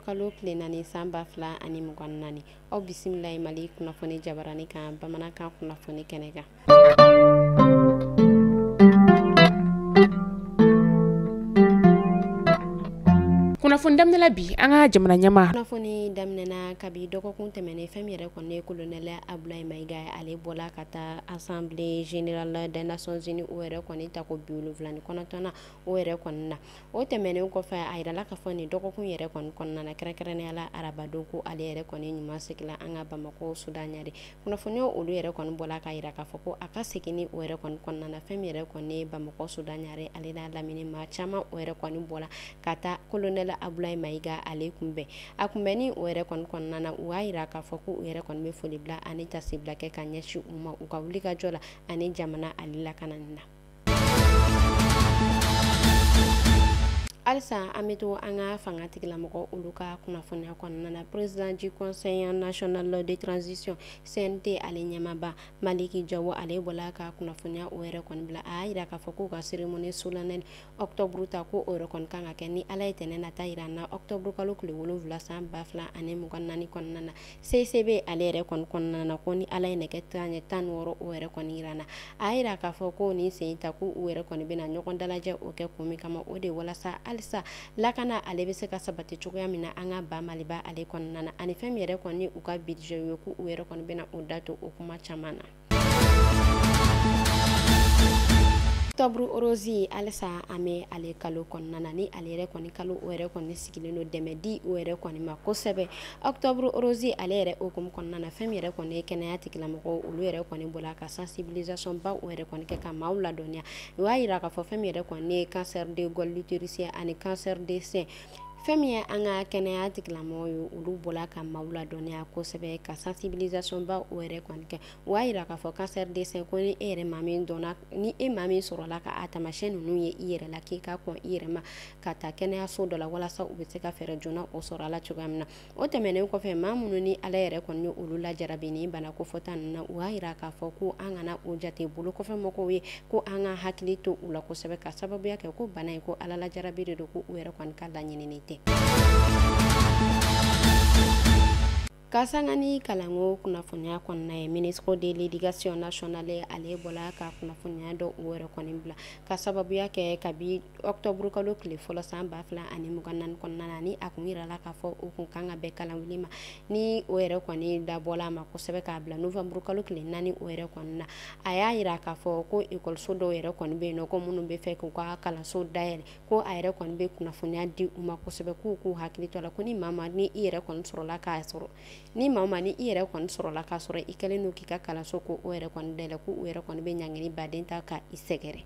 kalo tile naani san ba fila ani mugan naani aw bisimila ye mali kunnafoni jabarani kan bamanankan kunnafoni kɛnɛ kan kunnafoni daminɛ bi an ka jamana ɲɛmaa kunnafoni daminɛna kabi dɔgɔkun tɛmɛnen fɛn min yɛrɛ kɔni ye colonel Abulayi Mayiga ale bɔla ka taa assemblée générale des nations unies o yɛrɛ kɔni ta ko bi wolonwula ni kɔnɔntɔn na o yɛrɛ kɔni na o tɛmɛnen kɔfɛ a yirala k'a fɔ nin dɔgɔkun yɛrɛ kɔni kɔnɔna na kɛrɛnkɛrɛnnenya la arabadon ko ale yɛrɛ kɔni ɲuman seginna an ka Bamakɔ Suda ɲare kunnafoniyaw olu yɛrɛ kɔni bɔla k'a yira k'a fɔ ko a ka seginni o yɛrɛ kɔni kɔnɔna na fɛn min yɛrɛ kɔni ye Bamakɔ Suda ɲare ale n'a lamini maa caman o yɛrɛ kɔni bɔla ka taa colonel Abulayi Mayiga ale kunbɛn A kunbɛnni o yɛrɛ kɔni kɔnɔna na u y'a yira k'a fɔ ko u yɛrɛ kɔni bɛ foli bila ani tasibila kɛ ka ɲɛsin u ma u ka wulikajɔ la ani jamana ale lakanani na halisa an bɛ to an ka fangatigilamɔgɔ olu ka kunnafoniya kɔnɔna na président du conseil national de transition CNT ale ɲɛmaaba maliki jawo ale bɔla ka kunnafoniya o yɛrɛ kɔni bila a y'a yira k'a fɔ k'u ka cérémonie solennelle octobre ta ko o yɛrɛ kɔni kan ka kɛ ni ala ye tɛnɛn nata yira an na octobre kalo tile wolonwula san ba fila ani mugan naani kɔnɔna na CICB ale yɛrɛ kɔni kɔnɔna na ko ni ala ye nɛgɛ kanɲɛ tan wɔɔrɔ o yɛrɛ kɔni yira an na a y'a yira k'a fɔ ko nin sen ta ko u yɛrɛ kɔni bɛna ɲɔgɔn dalajɛ o kɛ kun min kama o de walasa halisa lakana ale bɛ se ka sabati cogoya min na an ka ba maliba ale kɔnɔna na ani fɛn min yɛrɛ kɔni u ka budget ye ko u yɛrɛ kɔni bɛna u da to o kuma caman na octobre rose alisa an bɛ ale kalo kɔnɔna na ni ale yɛrɛ kɔni kalo o yɛrɛ kɔni sigilen don dɛmɛ di o yɛrɛ kɔni ma kosɛbɛ octobre rose ale yɛrɛ hukumu kɔnɔna na fɛn min yɛrɛ kɔni ye kɛnɛya tigilamɔgɔw olu yɛrɛ kɔni bɔla ka sensibilisation ba o yɛrɛ kɔni kɛ ka maaw ladɔnniya u y'a yira k'a fɔ fɛn min yɛrɛ kɔni ye cancer de col de l'utérus ani cancer de sein fɛn min ye an ka kɛnɛya tigilamɔgɔw ye olu bɔla ka maaw ladɔnniya kosɛbɛ ka sensibilisation ba o yɛrɛ kɔni kɛ u y'a yira k'a fɔ cancer de sein ko ni e yɛrɛ maa min dɔnna ni e maa min sɔrɔla ka a taamasiyɛn ninnu ye i yɛrɛ la k'i ka kɔn i yɛrɛ ma ka taa kɛnɛyaso dɔ la walasa u bɛ se ka fɛɛrɛ joona o sɔrɔ a la cogoya min na o tɛmɛnen kɔfɛ maa minnu ni ala yɛrɛ kɔni ye olu lajarabi ni bana kofɔta nin na u y'a yira k'a fɔ ko an kana u jate bolo kɔfɛ mɔgɔw ye ko an ka hakili to u la kosɛbɛ ka sababuya kɛ ko bana in ko ala lajarabi de don ko u yɛrɛ kɔni ka laɲinini tɛ ka sanga ni kalanko kunnafoniya kɔnɔna ye ministre de l'éducation nationale ale bɔla ka kunnafoniya dɔ u yɛrɛ kɔni bila ka sababuya kɛ kabi octobre kalo tile fɔlɔ san ba fila ani mugan naani kɔnɔna na ni a kun yirala k'a fɔ o kun kan ka bɛn kalanwuli ma ni o yɛrɛ kɔni dabɔla a ma kosɛbɛ k'a bila novembre kalo tile naani o yɛrɛ kɔni na a y'a yira k'a fɔ ko ekɔliso dɔw yɛrɛ kɔni bɛ yen nɔ ko minnu bɛ fɛ k'u ka kalanso dayɛlɛ ko a yɛrɛ kɔni bɛ kunnafoniya di u ma kosɛbɛ k'u k'u hakili to a la ko ni maa o maa ni i yɛrɛ kɔni sɔrɔla k'a sɔrɔ ni maa o maa ni i yɛrɛ kɔni sɔrɔla k'a sɔrɔ i kɛlen don k'i ka kalanso ko o yɛrɛ kɔni dayɛlɛ ko u yɛrɛ kɔni bɛ ɲangini ba de ta ka i sɛgɛrɛ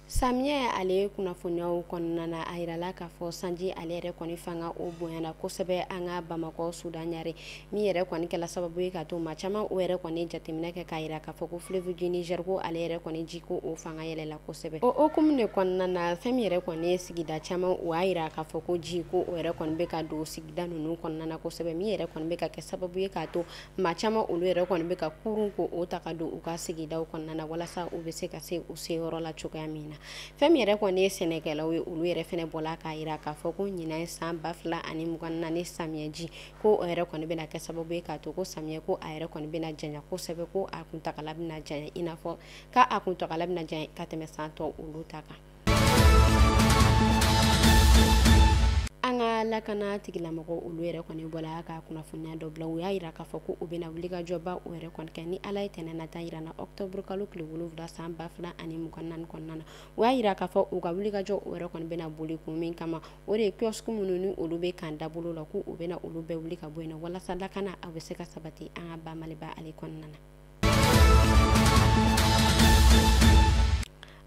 samiyɛ ale kunnafoniyaw kɔnɔna na a yirala k'a fɔ sanji ale yɛrɛ kɔni fanga o bonyana kosɛbɛ an ka bamakɔ sudan ɲare min yɛrɛ kɔni kɛla sababu ye k'a to maa caman o yɛrɛ kɔni jateminɛ kɛ k'a yira k'a fɔ ko fleuve du Niger ko ale yɛrɛ kɔni ji ko o fanga yɛlɛla kosɛbɛ o hukumu de kɔnɔna na fɛn min yɛrɛ kɔni ye sigida caman o y'a yira k'a fɔ ko ji ko o yɛrɛ kɔni bɛ ka don sigida ninnu kɔnɔna na kosɛbɛ min yɛrɛ kɔni bɛ ka kɛ sababu ye k'a to maa caman olu yɛrɛ kɔni bɛ ka kurun ko o ta ka don u ka sigidaw kɔnɔna na walasa u bɛ se ka se u seyɔrɔ la cogoya min na fɛn min yɛrɛ kɔni ye sɛnɛkɛlaw ye olu yɛrɛ fɛnɛ bɔla k'a yira k'a fɔ ko ɲinan san ba fila ani mugan naani samiyɛji ko o yɛrɛ kɔni bɛna kɛ sababu ye k'a to ko samiyɛ ko a yɛrɛ kɔni bɛna janya kosɛbɛ ko a kuntagala bɛna janya i n'a fɔ k'a a kuntagala bɛna janya ka tɛmɛ san tɔ olu ta kan an ka lakana tigilamɔgɔ olu yɛrɛ kɔni bɔla ka kunnafoniya dɔ bila u y'a yira k'a fɔ ko u bɛna wulikajɔba o yɛrɛ kɔni kɛ ni ala ye tɛnɛ nata yira an na octobre kalo tile wolonwula san ba fila ani mugan naani kɔnɔna na u y'a yira k'a fɔ u ka wulikajɔ o yɛrɛ kɔni bɛna boli kun min kama o de ye kiosque minnu ni olu bɛ kan dabolo la ko u bɛna olu bɛɛ wuli ka bɔ yen nɔ walasa lakana a bɛ se ka sabati an ka ba maliba ale kɔnɔna na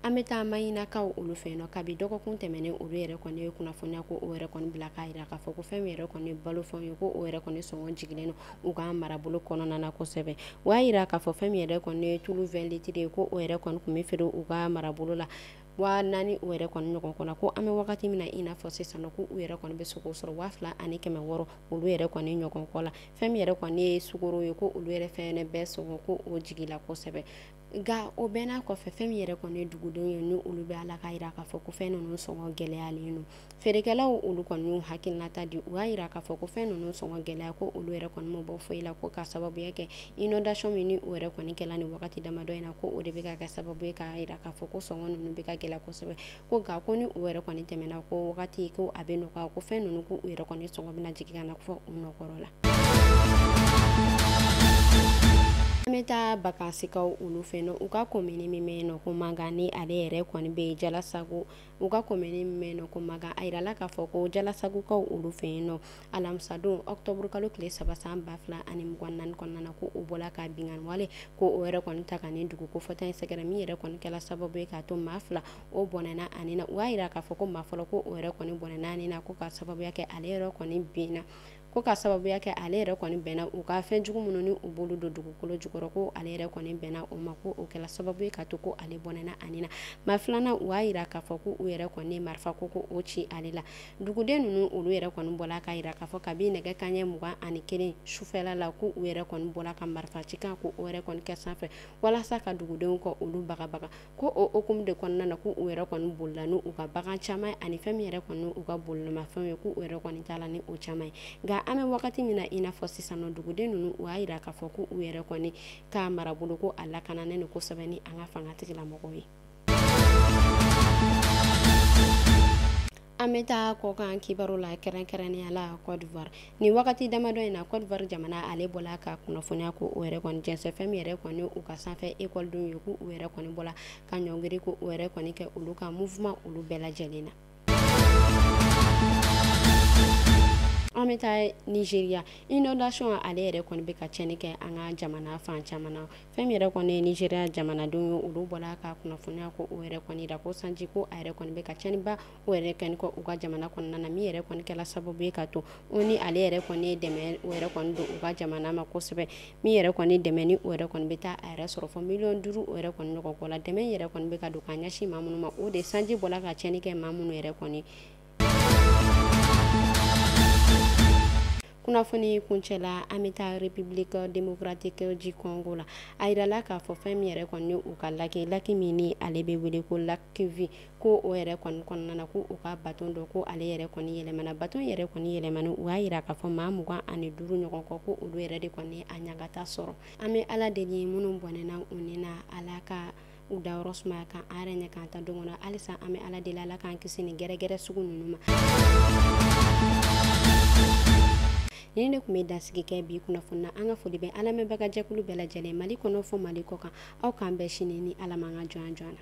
an bɛ taa mayinakaw olu fɛ yen nɔ kabi dɔgɔkun tɛmɛnen olu yɛrɛ kɔni ye kunnafoniya ko o yɛrɛ kɔni bila k'a yira k'a fɔ ko fɛn min yɛrɛ kɔni balo fɛnw ye ko o yɛrɛ kɔni sɔngɔ jigilen don u ka marabolo kɔnɔna na kosɛbɛ o y'a yira k'a fɔ fɛn min yɛrɛ kɔni ye tulu 20 litiri ye ko o yɛrɛ kɔni tun bɛ feere u ka marabolo la waa naani u yɛrɛ kɔni ɲɔgɔn kɔ la ko an bɛ wagati min na i n'a fɔ sisan nɔ ko u yɛrɛ kɔni bɛ se k'o sɔrɔ waa fila ani kɛmɛ wɔɔrɔ olu yɛrɛ kɔni ɲɔgɔn kɔ la fɛn min yɛrɛ kɔni ye sukoro ye ko olu yɛrɛ fɛnɛ bɛɛ sɔngɔ ko o jigila kosɛbɛ nka o bɛɛ n'a kɔfɛ fɛn min yɛrɛ kɔni dugudenw ye ni olu bɛ a la k'a yira k'a fɔ ko fɛn ninnu sɔngɔ gɛlɛyalen don Feerekɛlaw olu kɔni y'u hakilinata di u y'a yira k'a fɔ ko fɛn ninnu sɔngɔ gɛlɛya ko olu yɛrɛ kɔni ma bɔ foyi la ko ka sababuya kɛ inondation min ni o yɛrɛ kɔni kɛla nin wagati damadɔ in na ko o de bɛ ka kɛ sababu ye k'a yira k'a fɔ ko sɔngɔ ninnu bɛ ka gɛlɛya kosɛbɛ ko nka ko ni u yɛrɛ kɔni tɛmɛna ko wagati ko a bɛ nɔgɔya ko fɛn ninnu ko u yɛrɛ kɔni sɔngɔ bɛna jigin ka na fɔ u nɔ kɔrɔ la an bɛ taa bakansikaw olu fɛ yen nɔ u ka komini min bɛ yen nɔ ko mankan ni ale yɛrɛ kɔni bɛ jalasago u ka komini min bɛ yen nɔ ko mankan a yirala k'a fɔ ko jalasagokaw olu fɛ yen nɔ alamisadon ɔkutɔburu kalo tile saba san ba fila ani mugan ni naani kɔnɔna na ko u bɔla ka binkanni wale ko o yɛrɛ kɔni ta ka nin dugu kofɔta in sɛgɛrɛ min yɛrɛ kɔni kɛla sababu ye k'a to maa fila o bɔnɛna a ni na u y'a yira k'a fɔ ko maa fɔlɔ ko o yɛrɛ kɔni bɔnɛna a ni na ko ka sababuya kɛ ale yɛrɛ kɔni bɛnna ko ka sababuya kɛ ale yɛrɛ kɔni bɛnna u ka fɛn jugu minnu ni u b'olu don dugukolo jukɔrɔ ko ale yɛrɛ kɔni bɛnna o ma ko o kɛla sababu ye k'a to ko ale bɔnɛna a ni na maa filanan u y'a yira k'a fɔ ko u yɛrɛ kɔni marifa ko ko o ci ale la duguden ninnu olu yɛrɛ kɔni bɔla k'a yira k'a fɔ kabi nɛgɛ kanɲɛ mugan ani kelen sufɛla la ko u yɛrɛ kɔni bɔla ka marifa ci kan ko o yɛrɛ kɔni kɛ sanfɛ walasa ka dugudenw kɔ olu bagabaga ko o hukumu de kɔnɔna na ko u yɛrɛ kɔni bolila n' u ka bagan caman ani fɛn min yɛrɛ kɔni u ka bolomafɛn ye ko u yɛrɛ kɔni taala ni o caman ye nka an bɛ wagati min na i n'a fɔ sisan nɔ duguden ninnu u y'a yira k'a fɔ ko u yɛrɛ kɔni ka marabolo ko a lakananen ni kosɛbɛ ni an ka fangatigila mɔgɔw ye An bɛ taa kɔkan kibaru la kɛrɛnkɛrɛnnenya la Côte d'Ivoire nin wagati damadɔ in na Côte d'Ivoire jamana ale bɔla ka kunnafoniya ko o yɛrɛ kɔni jɛnsɛn fɛn min yɛrɛ kɔni u ka sanfɛ ekɔlidenw ye ko u yɛrɛ kɔni bɔla ka ɲɔngiri ko u yɛrɛ kɔni kɛ olu ka mouvement olu bɛɛ lajɛlen na. An bɛ taa Nigeria inondation ale yɛrɛ kɔni bɛ ka tiɲɛni kɛ an ka jamana fan caman na. fɛn min yɛrɛ kɔni ye nigeria jamanadenw ye olu bɔla ka kunnafoniya ko o yɛrɛ kɔni da ko sanji ko a yɛrɛ kɔni bɛ ka cɛnniba o yɛrɛ kɛ kɔ u ka jamana kɔnɔna na min yɛrɛ kɔni kɛla sababu ye k'a to ONU ale yɛrɛ kɔni ye dɛmɛ o yɛrɛ kɔni don u ka jamana ma kosɛbɛ min yɛrɛ kɔni dɛmɛ ni o yɛrɛ kɔni bɛ taa a yɛrɛ sɔrɔ fɔ miliyɔn duuru o yɛrɛ kɔni ɲɔgɔn kɔ la dɛmɛ yɛrɛ kɔni bɛ ka don ka ɲɛsin maa minnu ma o de sanji bɔla ka cɛnni kɛ maa minnu yɛrɛ kɔni kunnafoni kuncɛla an bɛ taa republique démocratique du congo la a yirala k'a fɔ fɛn min yɛrɛ kɔni u ka laki laki min ni ale bɛ wele ko lac kivu ko o yɛrɛ kɔni kɔnɔna na ko u ka baton dɔ ko ale yɛrɛ kɔni yɛlɛmana baton yɛrɛ kɔni yɛlɛmani u y'a yira k'a fɔ maa mugan ani duuru ɲɔgɔn kɔ ko olu yɛrɛ de kɔni a ɲagata sɔrɔ an bɛ ala deli minnu bɔnɛna u ni na ala ka u dayɔrɔ sumaya ka an yɛrɛ ɲɛ k'an ta don kɔnɔ halisa an bɛ ala deli ala k'an kisi nin gɛrɛgɛrɛ sugu ninnu ma nin de tun bɛ dansigi kɛ bi kunnafoni na an ka foli bɛ an lamɛnbaga jɛkulu bɛɛ lajɛlen mali kɔnɔ fɔ mali kɔkan aw k'an bɛn sini ni ala man ka jɔn jɔn na